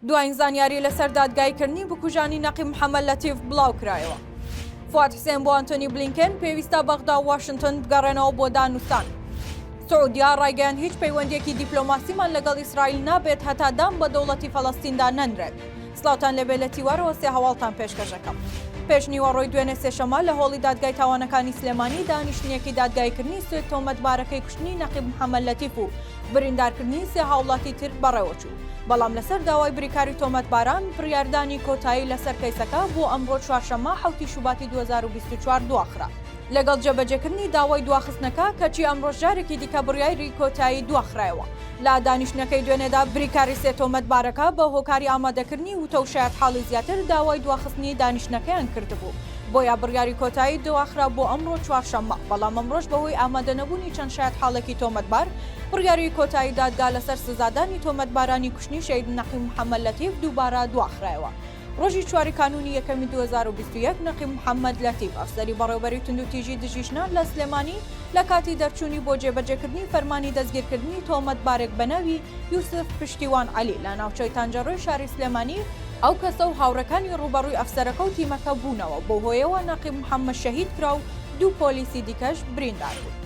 دوایین زانیاری لەسەر دادگایی کردنی بکوژانی نەقیب محەمەد لەتیف بڵاو کرایەوە. فواد حسێن بۆ ئەنتۆنی بلینکێن، پێویستە بەغدا و واشنتن بگەڕێنەوە بۆ دانوستان. سعودیا ڕایگەیاند هیچ پەیوەندیەکی دیپلۆماسیمان لەگەڵ ئیسرائیل نابێت هەتا دان بە دەوڵەتی فەلەستیندا نەنرێت. سڵاوتان لێبێت لە تیوارەوە سێ هەواڵتان پێشکەشەکەم. پێش نیوەڕۆی دوێنێ سێشەممە لە هۆڵی دادگای تاوانەکانی سلێمانی دانیشتنێکی دادگاییکردنی سوێد تۆمەتبارەکەی کوشتنی نەقیب محەمەد لەتیف و بریندارکردنی سێ هاوڵاتی تر بەڕێوەچوو. بەڵام لەسەر داوای بریکاری تۆمەتباران بڕیاردانی کۆتایی لەسەر کەیسەکە بۆ ئەمڕۆ چوارشەممە حەوتی شوباتی دوو هەزار و بیست و چوار دواخرا لەگەڵ جێبەجێکردنی داوای دواخستنەکە کەچی ئەمڕۆش جارێکی دیکە بڕیایری کۆتایی دواخرایەوە. لە دانیشتنەکەی دوێنێدا بریکاری سێ تۆمەتبارەکە بە هۆکاری ئامادەکردنی وتە و شایەتحاڵی زیاتر داوای دواخستنی دانیشتنەکەیان کردبوو بۆیە بڕیاری کۆتایی دواخرا بۆ ئەمڕۆ چوارشەممە بەڵام ئەمڕۆش بەهۆی ئامادەنەبوونی چەند شایەتحاڵێکی تۆمەتبار بڕیاری کۆتایی دادگا لەسەر سزادانی تۆمەتبارانی کوشتنی شەهید نەقیب محەممەد لەتیف دووبارە دواخرایەوە. ڕۆژی چواری کانوونی یەکەمی دوو هەزار و بیست و یەک نەقیب محەممەد لەتیف ئەفسەری بەڕێوەبەری توندوتیژی دژی ژنان لە سلێمانی لە کاتی دەرچوونی بۆ جێبەجێکردنی فەرمانی دەستگیرکردنی تۆمەتبارێک بە ناوی یوسف پشتیوان عەلی لە ناوچەی تانجەڕۆی شاری سلێمانی ئەو کەسە و هاوڕێکانی ڕووبەڕووی ئەفسەرەکە و تیمەکە بوونەوە، بەو هۆیەوە نەقیب محەممەد شەهید کرا و دوو پۆلیسی دیکەش بریندار بوون.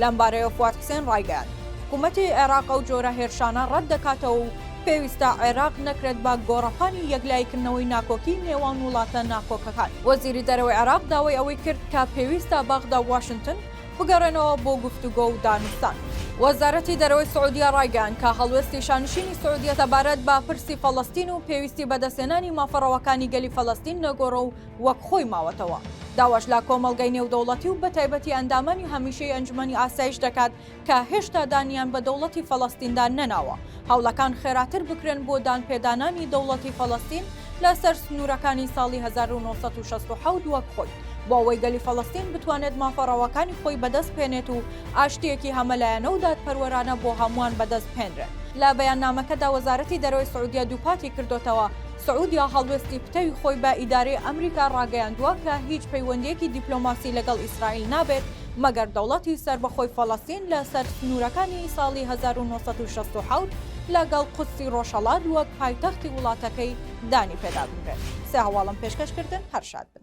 لەمبارەیەوە فواد حسێن ڕایگەیاند، حکومەتی عێراق ئەو جۆرە هێرشانە ڕەت دەکاتەوە و پێویستە عێراق نەکرێت بە گۆڕەپانی یەکلاییکردنەوەی ناکۆکی نێوان وڵاتە ناکۆکەکان. وەزیری دەرەوەی عێراق داوای ئەوەی کرد کە پێویستە بەغدا و واشنتن بگەڕێنەوە بۆ گفتوگۆ و دانوستان. وەزارەتی دەرەوەی سعودیە ڕایگەیاند کە هەڵوێستی شانشینی سعودیە سەبارەت بە پرسی فەڵەستین و پێویستی بەدەستهێنانی مافە ڕەواکانی گەلی فەلەستین نەگۆڕە و وەک خۆی ماوەتەوە. داواش لە کۆمەڵگەی نێودەوڵەتی و بەتایبەتی ئەندامانی هەمیشەی ئەنجومەنی ئاسایش دەکات کە هێشتا دانیان بە دەوڵەتی فەلەستیندا نەناوە، هەوڵەکان خێراتر بکرێن بۆ دانپێدانانی دەوڵەتی فەلەستین لەسەر سنوورەکانی ساڵی هەزار و نۆ سەد و شەست و حەوت وەک خۆی، بۆ ئەوەی گەلی فەلەستین بتوانێت مافە ڕەواکانی خۆی بەدەست بهێنێت و ئاشتییەکی هەمەلایەنە و دادپەروەرانە بۆ هەمووان بەدەست بهێنرێت. لە بەیاننامەکەدا وەزارەتی دەرەوەی سعودیە دووپاتی کردۆتەوە، سعودیە هەڵوێستی پتەوی خۆی بە ئیدارەی ئەمریکا ڕاگەیاندووە کە هیچ پەیوەندییەکی دیپلۆماسی لەگەڵ ئیسرائیل نابێت مەگەر دەوڵەتی سەربەخۆی فەڵەستین لە سەر سنوورەکانی ساڵی هەزار و نۆ سەد و شەست و حەوت لە گەڵ قودسی ڕۆژهەڵات وەک پایتەختی وڵاتەکەی دانی پێدا بنرێت. سێ هەواڵم پێشکەش کردن هەر شاد بن.